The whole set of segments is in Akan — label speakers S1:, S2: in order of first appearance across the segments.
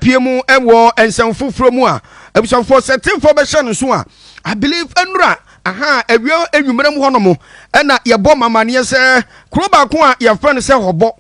S1: pie mu wɔ nsɛm foforɔ mu a abusuafoɔ sɛ tefoɔ bɛhyɛ no so a i believe nnura aha awia anwummerɛ mu hɔnom ɛna yɛbɔ mamaneɛ sɛ kuro baako a yɛfrɛ no sɛ hɔbɔ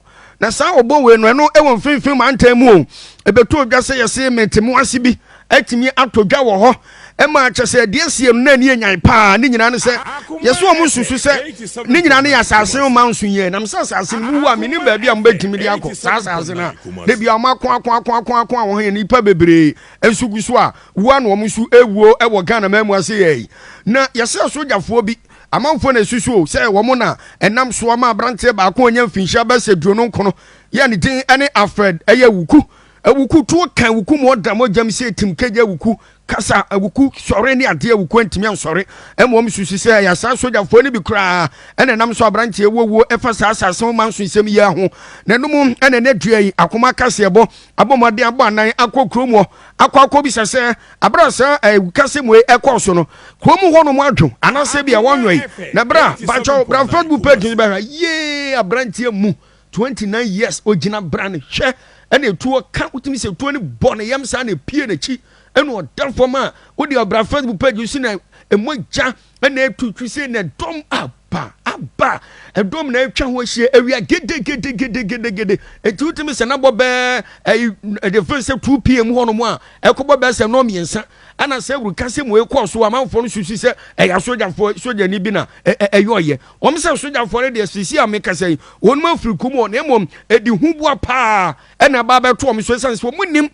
S1: na saa ɔbɔ wei no ɛno ɛwɔ mfimfini mantam mu o ɛbɛtɔ dwa sɛ yɛse mete mo ase bi atumi atɔ dwa wɔ hɔ Ɛma kyerɛ sɛ deɛ ɛsiam na ani yɛ nyan paa ne nyinaa ne sɛ yɛsɛ wɔn nsusu sɛ ne nyinaa ne yɛ asase ho ma nso yie nam sɛ asase no mu wu a menim baabi a mobɛtumi de akɔ saa asase no a da bia wɔn ako ako ako ako ako a wɔn yɛ nnipa bebree nso gu so a wu a na wɔn nso ɛwuo ɛwɔ Ghana man mu ase yɛ yi na yɛsɛ asogyafoɔ bi amanfoɔ na ɛsusu o sɛ wɔn na ɛnam soɔ ma aberanteɛ baako ɔnyɛ mfinhyia bɛsɛ duonu nkono yɛ ne din ɛne Alfred ɛyɛ wuku Awuku tuo ka awuku ma ɔda mogya mu sɛ etim kegye awuku kasa a awuku sɔre ne adeɛ a awuku antumi ansɔre mmom susu sɛ ɛyɛ saa sogyafoɔ no bi koraa na ɛnam so aberanteɛ ɛwɔ wuo ɛfa saa asase ho manso nsɛm yi ara ho n'anom ɛna ɛnɛ dua yi akoma akaseɛbɔ abɔ mmɔden abɔ anan akɔ kuro muɔ akɔ akɔ bisa sɛ abere a saa awukasɛm wei ɛkɔɔ so no kuro mu hɔ nom adwo anasɛ bi a wɔnwɛn na bra bakyɛw bra facebook page no bɛhwɛ yee aberanteɛ mu Twenty nine years ogyina brane hwɛ ɛna etuo ka wotumi sɛ etuo no bɔ ne yam saa na epie n'akyi ɛna ɔda fam a wode ɔbra facebook page so na emogya ɛna etu twi sɛ na ɛdɔm aba aba ɛdɔm na atwa ho ahyia awia gede gede gede gede gede eti wotumi sɛ nabɔ bɛɛ ɛyi ɛde fɛn sɛ two pm hɔ nom a ɛkɔbɔ bɛɛ sɛ nɔɔ mmiɛnsa ɛna sɛ wuru ka sɛ mo ekɔ so amanfoɔ no susu sɛ ɛyɛ asogyafoɔ sogyani bi na ɛyɛ ɔyɛ Wɔn sɛ sogyafoɔ no deɛ sisi a mekasa yi wɔn afiri kum wɔn na mmom ɛdi huboa paa ɛna ɛba abɛto wɔn so ɛsan sɛ wɔn nim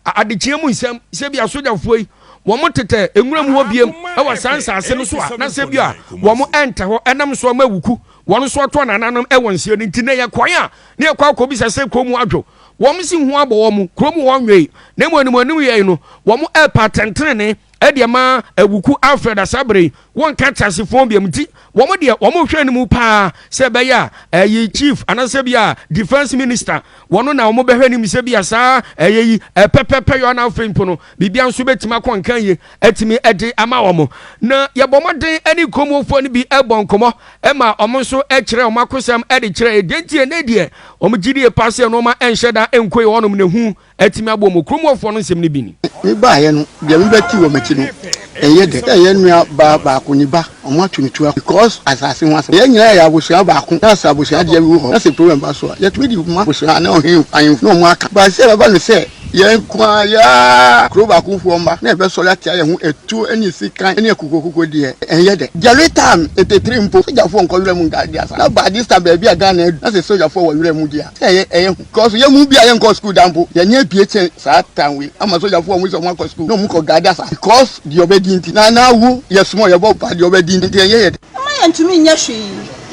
S1: adekyeɛ mu nsɛm sɛ bi asogyafoɔ yi wɔn tetɛ nwura mu hɔ biem ɛwɔ saa nsaase no so a na sɛ bi a wɔn ɛntɛ hɔ ɛnam so ama wuku wɔn nso ato nananom ɛwɔ nseɛ no nti na yɛ kwan a ne yɛ kɔ akɔ bisa sɛ kɔn mu adwo wɔn si ho abɔ wɔn kurom wɔn nwee na mmom anim anim yɛn no wɔn ɛpa tɛntɛnne ɛde ama Awuku Alfred Asabere yi, wɔnka teasefoɔ biam nti wɔn deɛ wɔn hwɛ no mu paa sɛ ɛbɛyɛ a ɛyi chief anaasɛ bi a defence minister wɔn na wɔn bɛhwɛ nim sɛ bi a saa ɛyɛ yi ɛpɛpɛpɛ yɔ na afei mpo no biribia nso bɛtumi akɔ nkan yie atumi ɛde ama wɔn na yɛbɔ mmɔden ɛne nkɔmuofoɔ no bi ɛbɔ nkɔmɔ ɛma wɔn nso ɛkyerɛ wɔn akosɛm ɛde kyerɛ ɛdeɛ nti ɛnɛ deɛ wɔn gyidie paa sɛ nneɛma ɛnhyɛ da ɛnkɔ yɛ wɔnom na ɛhu atumi aboa mu. Kurom hɔfoɔ no nsɛm no bi ni. Me baeɛ no,
S2: deɛ me bɛte wɔ m'akyi no, ɛyɛ dɛ sɛ yɛn nua baa baako, ne ba, wɔn ato no tua because asase ho asɛm. Yɛn nyinaa yɛ abusua baako, na sɛ abusua deɛ bi wɔ hɔ, na sɛ problem ba so a, yɛtumi de ma abusua ne ɔhene ahemfo na wɔn aka. But sɛ ɛbɛba no sɛ yɛn nko ara yɛ ara kuro baako foɔ mma na yɛbɛsɔre atia yɛn ho atuo ne sikan ne akokoakoko deɛ, ɛyɛ dɛ. Jerry Tam, Nteteri mpo, sogyafoɔ nkɔ wira mu nka adeɛ saa. Na by this time baabi a Ghana adu, na sɛ sogyafoɔ wɔ wira mu deɛ a, sɛ ɛyɛ hu. Because yɛn mu bi a yɛnkɔɔ sukuu da mpo, yɛn ani abue kyɛn saa tan wei ama sogyafo a wɔse wɔakɔ sukuu na wɔkɔ guard asa because deɛ ɔbɛdi nti. Na na awu yɛ small, yɛbɔ wo paa deɛ ɔbɛdi nti ɛnyɛ yɛ dɛ. Wɔmma yɛntumi nyɛ
S3: hwee,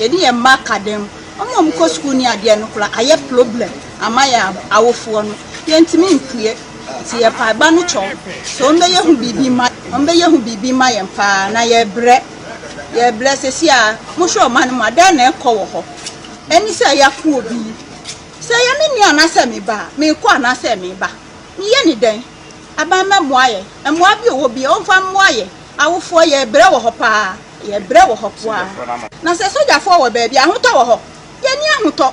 S3: yɛde yɛn mma ka dɛm, wɔn a wɔkɔ sukuu ne adeɛ no koraa ayɛ problem ama yɛn awofoɔ no, yɛntumi mpue. Nti yɛ mpaebɔ no kyɛw sɛ wɔbɛyɛ ho biribi mma wɔbɛyɛ ho biribi mma yɛn paa, na yɛrebrɛ, yɛrebrɛ. Seesei a mohwɛ ɔman no mu a, dɛn na ɛrekɔ wɔ hɔ? Ɛne sɛ yɛapo obi, Sɛ ɛyɛ me nua anaasɛ me ba a, merekɔ anaasɛ mereba? Meyɛ no dɛn? Aban mmɛmmoa yɛn. Mmoa bi wɔ bia ɔmfa mmoa yɛn. Awofoɔ, yɛrebrɛ wɔ hɔ paa. Yɛrebrɛ wɔ hɔ paa. Na sɛ sogyafoɔ wɔ baabi a, ahotɔ wɔ hɔ? Yɛnni ahotɔ.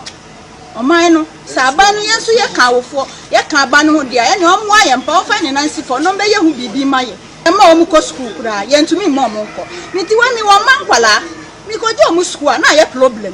S3: Ɔman no, sɛ aban no, yɛn nso yɛka awofoɔ, yɛka aban no ho deɛ a, ɛneɛ ɔmmoa yɛn paa, ɔmfa ne nan nsi fam na ɔmmɛyɛ ho biribi mma yɛn. Yɛmma wɔn kɔ sukuu koraa, yɛntumi mma wɔn nkɔ. Me ti wɔ he, mewɔ mma nkwadaa, mekɔgye wɔn sukuu a, na ayɛ problem.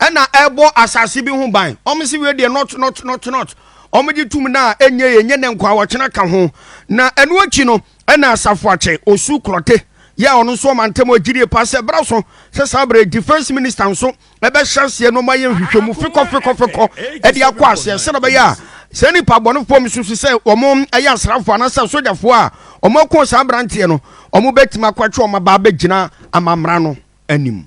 S1: ɛna ɛbɔ asase bi ho ban ɔmo si wei deɛ not not not not ɔmo gye tum na ɛnyɛ yɛ nyɛ ne nkwa wɔkyena ka ho na ɛno akyi no ɛna asafo akyɛ osu klɔte yɛ a ɔno nso ɔma ntɛm ɔgyirie pa sɛ bra so sɛ saa berɛ defense minister nso ɛbɛhyɛ aseɛ no ɔma yɛ nhwehwɛ mu fekɔ fekɔ fekɔ ɛde akɔ aseɛ sɛ na bɛyɛ a saa nipa bɔnefoɔ m susu sɛ wɔn ɛyɛ asrafoɔ anasɛ sogyafoɔ a wɔn ako saa aberanteɛ no wɔn bɛtumi akɔtwe wɔn aba abɛgyina amammerɛ no anim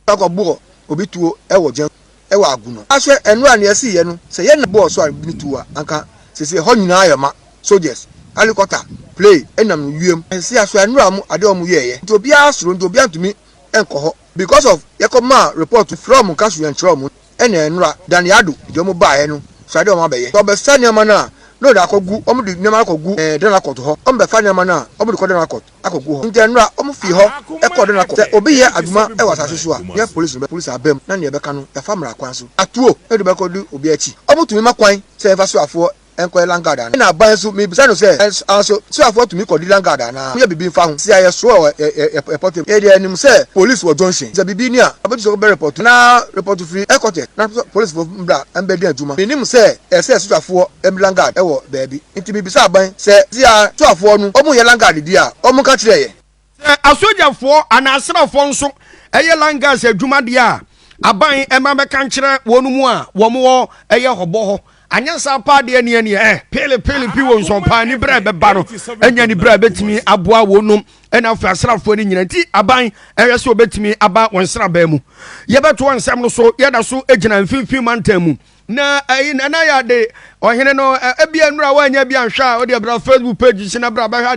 S1: Ɛkɔ
S2: bɔɔ obi tuo wɔ gya mu wɔ agu no. Ahwɛ ɛno a nea ɛsii yɛ no sɛ yɛ na bɔɔ so a ne tuo a anka sese ɛhɔ nyinaa ayɛ ma soldiers alikɔta
S4: play ɛnam no wiem sese ahwɛ anura mo ade a ɔmo yɛɛ yɛ nti obiara soro nti obiara ntumi nkɔ hɔ because of yɛ kɔ maa report frɛ ɔmo nka so yɛn kyerɛ ɔmo. Ɛnna nnora Danny Addo de wɔn baeɛ no suaa deɛ wɔabɛyɛ. Wɔbɛsa nneɛma no a na wɔde akɔgu, wɔde nneɛma no akɔgu eh, Denalcourt hɔ. Wɔbɛfa nneɛma no a wɔde kɔ Denalcourt akɔgu hɔ. Enti nnora wɔfii hɔ kɔɔ Denalcourt. Sɛ obi yɛ adwuma wɔ asase so a, yɛ polisi no bɛ polisi aba mu na nea ɛbɛka no, yɛafa mmara kwan so. Atuo na yɛde bɛkɔdi obi akyi. Wɔtumi ma kwan sɛ yɛmfa soafoɔ nkɔyɛ lanyard anaa? Ɛnna aban nso, mebisa no sɛ, Ɛnsaa so, Suafoɔ tumi kɔdi lanyard anaa? Wonyɛ biribi mfa ho? Sɛ yɛsoɔ a, ɛ, ɛ, ɛ, ɛ, pɔtem. Yɛdeɛ yɛnim sɛ polis wɔ junction. Sɛ biribi ni a, wɔbɛgye sɛ wobɛrepɔto, anaa repɔto firi headquarters, na sɛ polisfoɔ mmra mmɛdi adwuma. Mennim sɛ ɛsɛ sɛ suafoɔ di lanyard wɔ baabi. Enti mebisa aban sɛ, Sia, suafoɔ no, wɔnyɛ lanyard di a, wɔnka nkyerɛ yɛn. Sɛ asogyafoɔ
S1: anaa asraafoɔ nso yɛ line gas adwuma deɛ a, aban ɛma bɛka nkyerɛ wɔn mu a wɔn wɔ ɛyɛ hɔbɔ hɔ. Anyɛ saa paa deɛ neɛ neɛ ɛ peele peele pi wɔn nsɔn paa ni berɛ ɛbɛba no ɛnyɛ ni berɛ a ɛbɛtumi aboa wɔn nom ɛna afei asraafoɔ no nyina nti aban ɛhwɛ sɛ wɔbɛtumi aba wɔn nsrabaa mu. Yɛbɛtoa nsɛm no so yɛda so gyina mfimfini mantam mu. Na ɛyi na na yɛade ɔhene no ɛbia nnura wɔanyɛ bi anhwɛ a wɔde ɛbra Facebook page si na bra bɛhwɛ.